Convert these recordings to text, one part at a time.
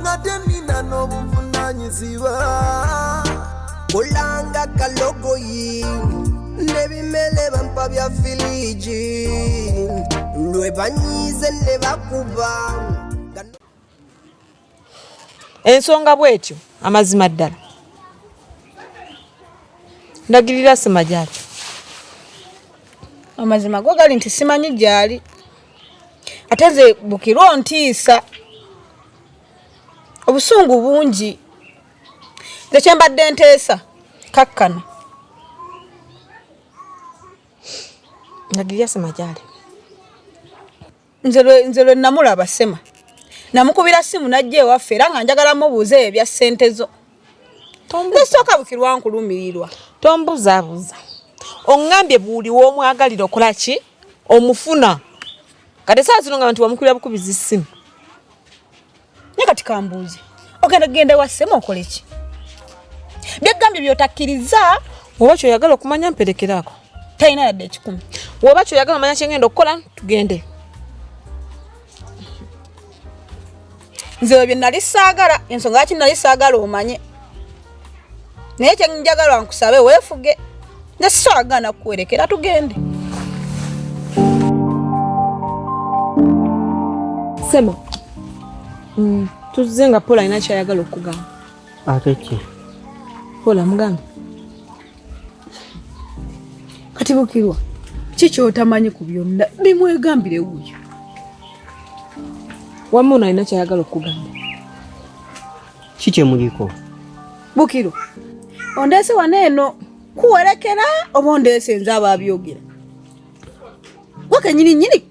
ngate nina n'obuvunanyizibwa kulanga kalogoyi nebimele bampa bya filiji lwe banyize ne bakuba ensonga bwetyo amazima ddala ndagirira sima gyaki amazima go gali nti simanyi gyali ate nze bukirwa ontiisa obusungu bungi nze kyembadde nteesa kakkana ndagirya sema gyali nze lwe namulaba sema namukubira simu najja ewaffe era nga njagala mubuuza ebyo bya ssente zo nesooka bukirwa nkulumirirwa tombuzabuza ongambye buli womwagalira okola ki omufuna kati saa zino nga bantu bamukulira bukubiza essimu naye kati kambuuzi ogenda kugenda ewassemu okole ki byegambye byotakkiriza oba kyoyagala okumanya mperekeraako talina yadde ekikumi woba kyoyagala omanya kyengenda okukola tugende nze ebyo nali saagala ensonga yaki nali saagala omanye naye kyenjagala nkusabe weefuge nze sisaagana kuwerekera tugende sema mm, tuzze nga paul alina kyayagala okugamba ate ki paul amugamba kati bukirwa ki kyotamanyi ku byonna bimwegambire wuyo wamma ono alina kyayagala okugamba ki kyemuliko bukiro ondeese wano eno kuwerekera oba ondeese nze abaabyogera gwe kenyini nyini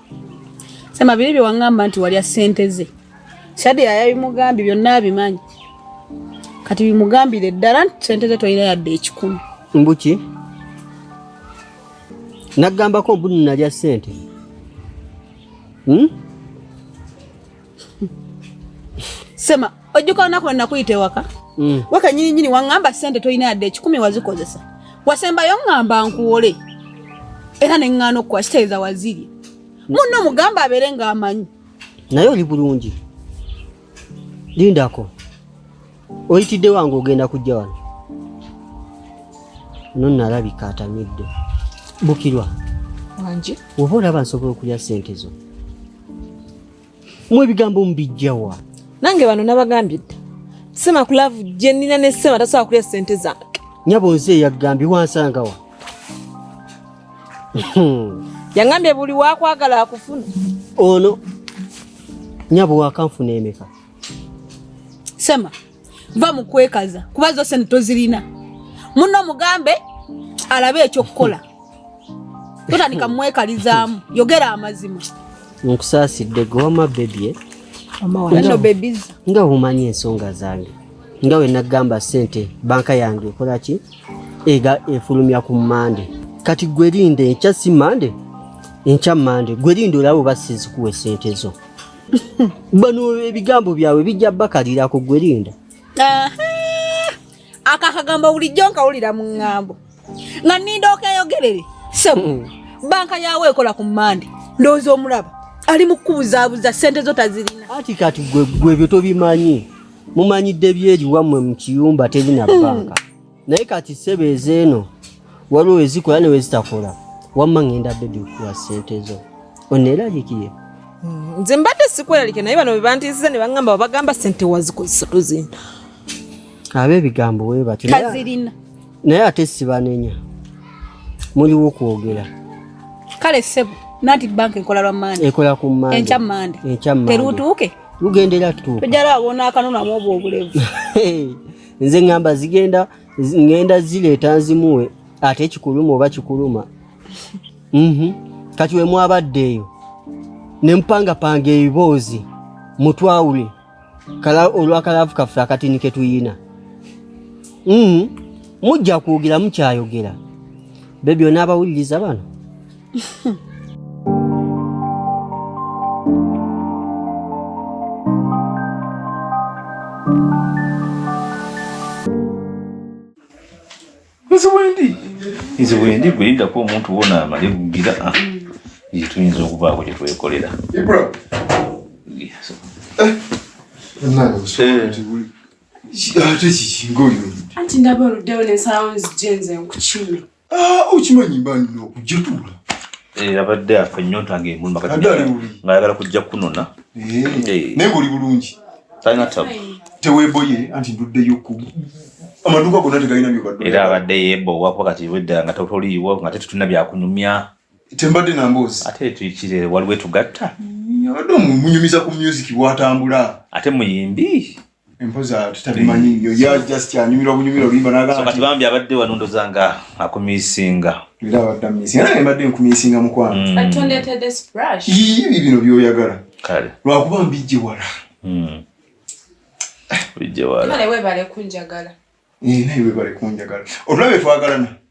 sema biri bye wangamba nti walya sente ze shadi yayabimugambye byonna abimanyi kati bimugambire ddala nti sente ze tolina yadde ekikumi mbuki nagambako mbu nalya sente hmm? Sema ojjuka olunaku lwe nakuyita ewaka mm. wekenyininyini waŋŋamba sente tolina yadde ekikumi wazikozesa wasembayo ŋŋamba nkuwole era ne ŋŋaana okukuwa kitegeeza waziri mm. munno mugamba abeere ng'amanyi naye oli bulungi lindako oyitidde wange ogenda kujja wano nonalabika atamidde bukirwa oba olaba nsobola okulya sente zo Mwe ebigambo mubijjawa? Nange bano nabagambye dda. Sema ku love gye nina ne Sema tasobola kulya ssente zange. Nyabo nze eyagambye wansangawa? Yangambye buli wakwagala akufuna. Ono nyabo wakanfuna emeka. Sema va mu kwekaza kuba zo sente tozirina muno mugambe alabe ekyokukola totandika mumwekalizaamu yogera amazima nkusaasidde goma bebye eh? nga omanyi ensonga zange nga wenagamba sente banka yange ekolaki ega efulumya ku mande kati gwerinde enkya si mande enkya mande gwerinde olaba oba sizikuwa esente zo bano ebigambo byabwe bijja bakalira ku gwe linda ako akagambo bulijjo nkawulira mu ŋŋambo nga ninda okeyogerere sebo hmm. banka yawe ekola ku mande ndowooza omulaba ali mu kukubuzabuza sente zo tazirina ati kati gwe gwe byo tobimanyi mumanyidde byeri wammwe mu kiyumba tebina hmm. banka naye kati sebo ezeeno waliwo ezikola ne wezitakola wamma ngenda bebi kuwa sente zo oneeralikiye mm, nze mbadde sikweralike naye bano bebantiisiza ne bagamba babagamba sente wazikozesa tozina aba ebigambo we batyo kazirina naye ate sibanenya muliwo kwogera kale sebo nanti banka ekola lwa mande ekola ku mande enkya mande enkya mande terutuuke lugendera tuuka tujala awona akanona mu obwo obulevu nze ngamba zigenda ngenda zileeta nzimuwe ate kikuluma oba kikuluma mhm. kati we mwabadde eyo ne mpangapanga ebiboozi mutwawule olwakalaavu kaffe akatini ke tuyina mhm. mujja kwogera mukyayogera be byona abawuliriza bano nze wendi nze wendi gwe lindako omuntu wona amale bugira ah. nze tuyinza okubaako kye twekolera ate kikinga oyo anti ndaba oluddewo ne sounds jenze nkukime Ah, okimanyi banno okujja tuula eh, abadde afa ennyonta ngaemulumangayagala kujja kunona eh, eh. naye ngaoli bulungi talina tabu teweboye anti nduddeyo ku amaduuka gonna tegalina byobadera abadde yebowa kuba kati wedda nga totoliiwo nga tetutulina byakunyumya tembadde namboozi ate tuikire waliwo etugatta mm, abadde omunyumiza ku music bwatambula ate muyimbi empoza tutabimanyi nyo ya just ya nyumira obunyumira olimba naga so kati bambi abadde wanundo zanga akumisinga era abadde misinga naye mbadde nkumisinga mukwano mm. atonde tede splash ibi bino byoyagala kale lwa kuba mbijje wala mm bijje wala kale webale kunjagala eh naye webale kunjagala olulabe twagalana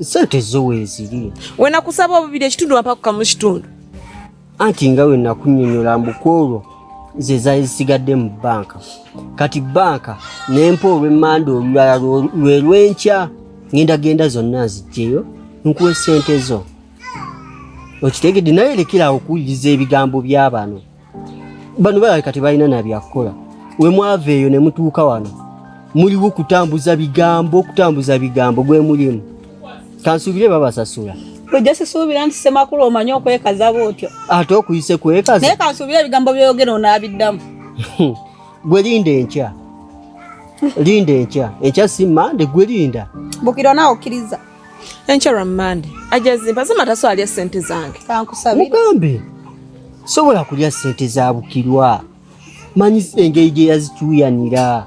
sente zo weeziri wenakusaba obubiri ekitundu wampakuka mu kitundu anti nga wenakunyonyola mbukwolwo ze zali zisigadde mu banka kati banka nempa olwemmanda olulala lwe lwenkya ngenda genda zonna nzijjeyo nkuwa esente zo okitegedde naye lekerawo okuwuliriza ebigambo by'abano bano balaba kati balina nabyakukola we mwava eyo ne mutuuka wano muliwo kutambuza bigambo okutambuza bigambo gwe mulimu kansuubire babasasula ojja sisuubira nti semakulu omanyi okwekaza bwotyo ate okuyise kwekaza naye kansuubire ebigambo byoyogera onaabiddamu gwe linda enkya linda enkya enkya si mande gwe linda bukiro naawe okkiriza enkya lwa mmande ajja zimba zima taso alya ssente zange mugambe sobola kulya ssente za bukirwa manyi engeri gye yazicuyanira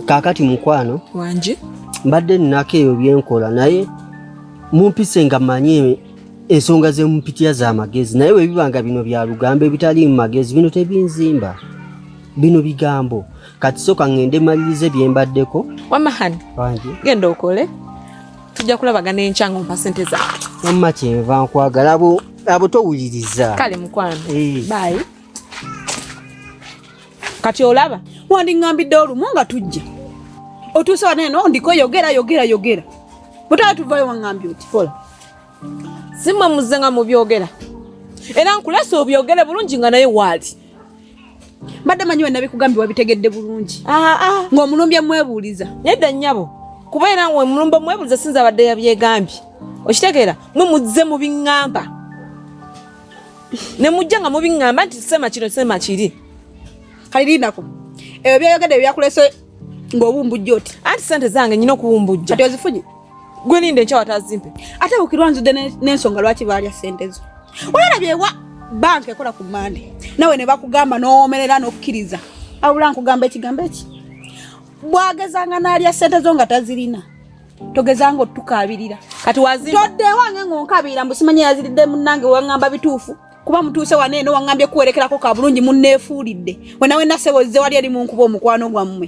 kaakati mukwano wangi mbadde nnako ebyo byenkola naye mumpise nga manyi ensonga zemupitya za magezi naye webiba nga bino bya lugambo ebitali mu magezi bino tebinzimba bino bigambo kati soka ngende malirize bye mbaddeko wamma hani genda okole tujja kulabagana enkya nga ompa sente za wamma kyenva nkwagala abo abo towuliriza kale mukwano eh. bayi kati olaba wandiŋambidde olumu nga tujja otuuse waneno ndiko yogera yogera yogera mutala tuvayo waŋambye oti kola simwe muzze nga mubyogera era nkulesa obyogere bulungi nga naye waali mbadde manyi we nabikugambye wabitegedde bulungi ah, ah. ng'omulumbye mwebuuliza nedda nnyabo kuba era we mulumba mwebuuliza sinza abadde yabyegambye okitegeera mwe muzze mu biŋŋamba ne mujja nga mubiŋŋamba nti sema kino sema kiri kali linako ebyo byayogedde byakulese ng'obumbujja oti anti sente zange nyina okubumbujja kati ozifunye Gwe ninde enkya watazimpe. Ate bukirwa nzude n'ensonga lwaki baalya sente zo. Olabye wa banka ekola ku mande nawe ne bakugamba n'owomerera n'okkiriza. Awula nkugamba ekigambo eki. Bwagezanga n'alya sente zo nga tazirina. Togezanga otukaabirira. Kati wazimba. Todde wange ng'onkabiira mbu simanya yaziridde munnange wangamba bituufu. kuba mutuuse wano eno waŋŋambye kuwerekerako ka bulungi munneefuulidde wenawe nasebo zze wali eri mu nkuba omukwano gwammwe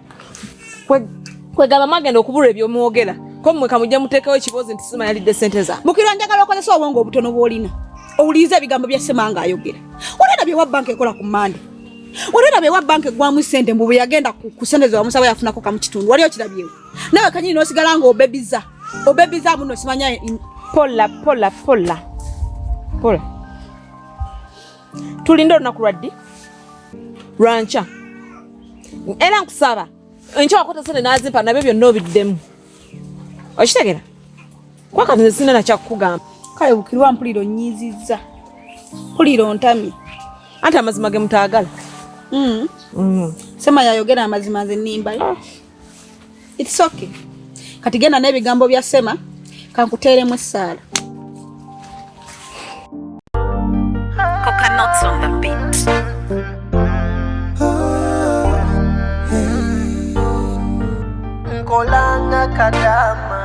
kwegamba mwagenda okubulwa ebyomwogera ko mmwe kamujja muteekawo ekiboozi nti sima yalidde sente za mukirwa njagala okozesa obwongo obutono bwolina owuliriza ebigambo bya semanga ayogera olina byewa banka ekola ku mande olina byewa banka egwamu sente mbu bweyagenda ku sente zewamusaba yafunako kamu kitundu wali okirabyewo nawe kanyini nosigala nga obebiza obebiza muno simanya pola pola pola pola tulinde olunaku lwaddi lwankya era nkusaba enkya wakota sente nazimpa nabyo byonna obiddemu okitegera kuba kati nesina nakyakukugamba kale bukirwa mpulira onyiizizza mpulira ontamye anti amazima ge mutaagala mm. mm. sema yayogera amazima nze nimbayo ah. It's okay. Kati genda n'ebigambo bya Sema kankuteeremu essaala. Coconuts on the beat. Nkolanga kadama